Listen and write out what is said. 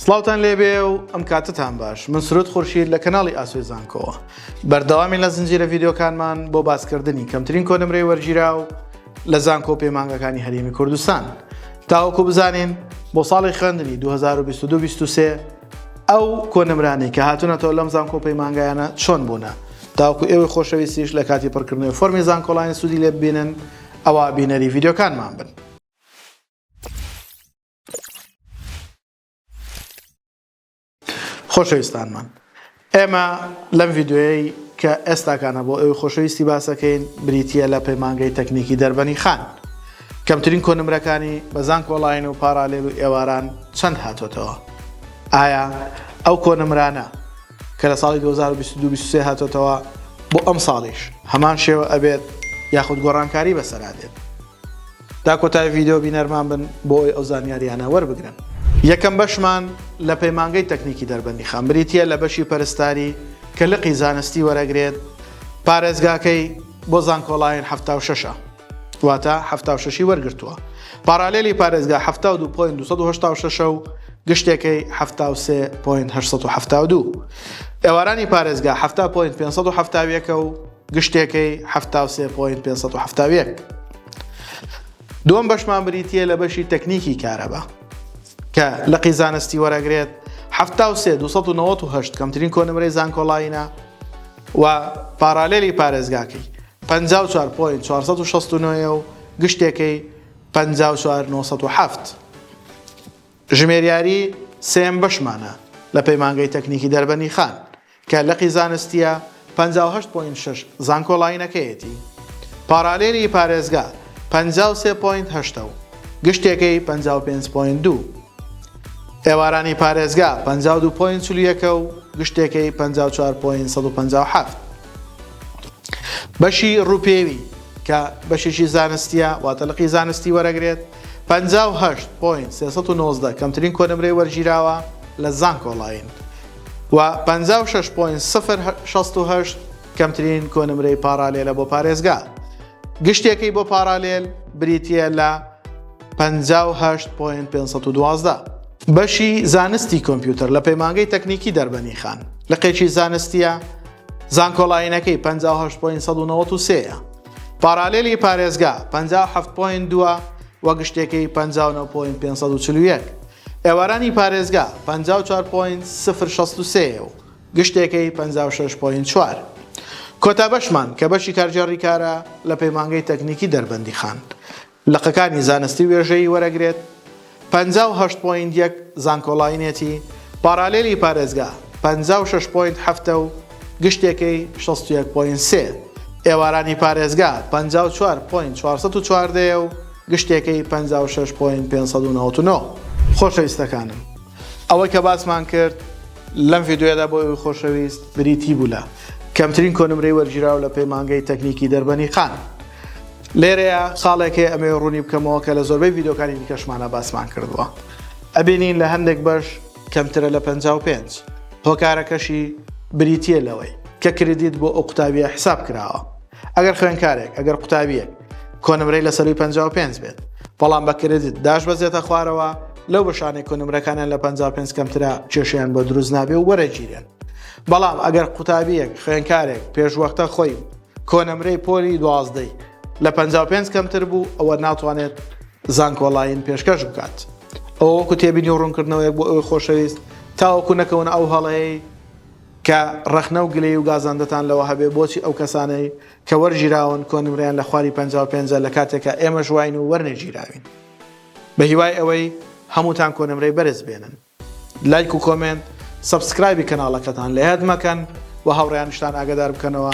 سڵاوتان لێبێ و ئەم کاتتان باش من سرود خورشید لە کەناڵی ئاسوی زانکۆوە بەردەوامی لە زنجیرە ڤیددیوکانمان بۆ باسکردنی کەمترین کۆنمرەی وەرگیرا و لە زانکۆ پەیمانگەکانی هەرێمی کوردستان تاوەکو بزانین بۆ ساڵی خوێندنی 2022 ئەو کۆنمرانی کە هاتونەتەوە لەم زانکۆ پەیمانگایانە چۆن بوونە تاوکو ئێوەی خۆشەویستیش لە کاتی پڕکردنەوەی فۆرمی زانکۆڵانی سوودی لێ ببینن ئەوە بینەری ڤیددیوکانمان بن. خۆشەویستانمان ئێمە لەم ڤیددیوەی کە ئێستاکانە بۆ ئەوی خۆشەویستی باسەکەین بریتە لە پەیمانگەی تەکنیکی دەربەنی خان کەمترین کۆنمرەکانی بەزان کۆڵین و پارالێل و ئێواران چەند هاتۆتەوە ئایا ئەو کۆنمرانە کە لە ساڵی 2022 هاتۆتەوە بۆ ئەم ساڵیش هەمان شێوە ئەبێت یاخود گۆڕانکاری بەسەرا دێت تا کۆتای ڤیدیۆ بینەرمان بن بۆ ئەوی ئەو زانیاریانە وەربگرن. یەکەم بەشمان لە پەیمانگەی تەکنیکی دەربەندیخان بریتیە لە بەشی پەرستاری کە لقی زانستی وەرەگرێت پارێزگاکەی بۆ زانکۆڵاین حەفتا و شەشە واتە حەفتا و شەشی وەرگرتووە پارالێلی پارێزگا حەفتا و دوو پۆینت دوو سەد و هەشتا و شەشە و گشتێکەی حەفتا و سێ پۆینت هەشت سەد و حەفتا و دوو ئێوارانی پارێزگا حەفتا پۆینت پێنج سەد و حەفتا و یەکە و گشتێکەی حەفتا و سێ پۆینت پێنج سەد و حەفتا و یەک. دووەم بەشمان بریتییە لە بەشی تەکنیکی کارەبا کە لقی زانستی وەرەگرێت حەفتا و سێ دوو سەد و نەوەد و هەشت کەمترین کۆنمرەی زانکۆڵاینە و پاراالێلی پارێزگاکەی پەنجا و چوار پۆینت چوار سەد و شەست و نۆ و گشتێکەی پەنجا و چوار نۆ سەد و حەفت ژمێریاری سێم بەشمانە لە پەیمانگەی تەکنیکی دەربەنی خان کە لقی زانستییە پەنجا و هەشت پۆینت شەش زانکۆلاینەکەیەتی، پارالێلی پارێزگا پەنجا و سێ پۆینت هەشت و گشتێکەی پەنجا و پێنج پۆینت دوو، ئێوارانی پارێزگا پەنجا و دوو پۆینت چل و یەک و گشتێکەی پەنجا و چوار پۆینت سەد و پەنجا و حەفت. بەشی ڕووپێوی کە بەشێکی زانستییە واتە لقی زانستی وەرەگرێت پەنجا و هەشت پۆینت سێ سەد و نۆزدە کەمترین کۆنمرەی وەرگیراوە لە زانکۆلاین، و پەنجا و شەش پۆینت سفر شەست و هەشت کەمترین کۆنمرەی پاڕالێلە بۆ پارێزگا گشتیەکەی بۆ پاڕالێل بریتییە لە پەنجا و هەشت پۆینت پێنج سەد و دوازدە. بەشی زانستی کۆمپیوتەر لە پەیمانگەی تەکنیکی دەربەنیخان لقێکی زانستییە زانکۆلاینەکەی پەنجا و هەشت پۆینت سەد و نەوەد و سێ یە پاڕالێلی پارێزگا پەنجا و حەفت پۆینت دووە و گشتیەکەی پەنجا و نۆ پۆینت پێنج سەد و چل و یەک ئێوارانی پارێزگا پەنجا و چوار پۆینت سفر شەست و سێ و گشتێکەی پەنجا و شەش پۆینت چوار. کۆتا بەشمان کە بەشی کارگێڕی کارە لە پەیمانگەی تەکنیکی دەربەندیخان لقەکانی زانستی وێژەیی وەرەگرێت پەنجا و هەشت پۆینت یەک زانکۆلاینێتی پاڕالێلی پارێزگا پەنجا و شەش پۆینت حەفت و گشتێکەی شەست و یەک پۆینت سێ، ئێوارانی پارێزگا پەنجا و چوار پۆینت چوار سەد و چواردە یە و گشتێکەی پەنجا و شەش پۆینت پێنج سەد و نەوەت و نۆ. خۆشەویستەکانم ئەوەی کە باسمان کرد لەم ڤیدیۆیەدا بۆ ئێوەی خۆشەویست بریتی بوو لە کەمترین کۆنمرەی وەرگیراو لە پەیمانگەی تەکنیکی دەربەنیقان لێرەیە خاڵێک هەیە ئەمەوێ ڕوونی بکەمەوە کە لە زۆربەی ڤیدیۆکانی دیکەشمانا باسمان کردووە ئەبینین لە هەندێک بەش کەمترە لە پەنجا و پێنج، هۆکارەکەشی بریتییە لەوەی کە کریدیت بۆ ئەو قوتابییە حیساب کراوە. ئەگەر خوێندکارێک، ئەگەر قوتابییەک کۆنمرەی لە سەرووی پەنجا و پێنج بێت، بەڵام بە کریدیت داشبەزێتە خوارەوە، لەو بەشانەی کۆنمرەکانیان لە پەنجا و پێنج کەمترە کێشەیان بۆ دروست نابێ و وەرەگیرێن. بەڵام ئەگەر قوتابییەک، خوێندکارێک پێشوەختە خۆی کۆنمرەی پۆلی دوازدەی لە پەنجا و پێنج کەمتر بوو، ئەوە ناتوانێت زانکۆلاین پێشکەش بکات. ئەوە وەکو تێبینی و ڕوونکردنەوەیەک بۆ ئەوی خۆشەویست تاوەکو نەکەونە ئەو هەڵەیەی کە ڕەخنە و گلەیی و گازاندتان لەوە هەبێ بۆچی ئەو کەسانەی کە وەرگیراون کۆنمرەیان لە خواری پەنجا و پێنجە لە کاتێکا ئێمەش واین و وەرنەگیراوین بە هیوای ئەوەی هەمووتان کۆنمرەی بەرز بێنن لایک و کۆمێنت سەبسکرایبی کەناڵەکەتان لە یاد مەکەن و هاوڕێیانیشتان ئاگەدار بکەنەوە.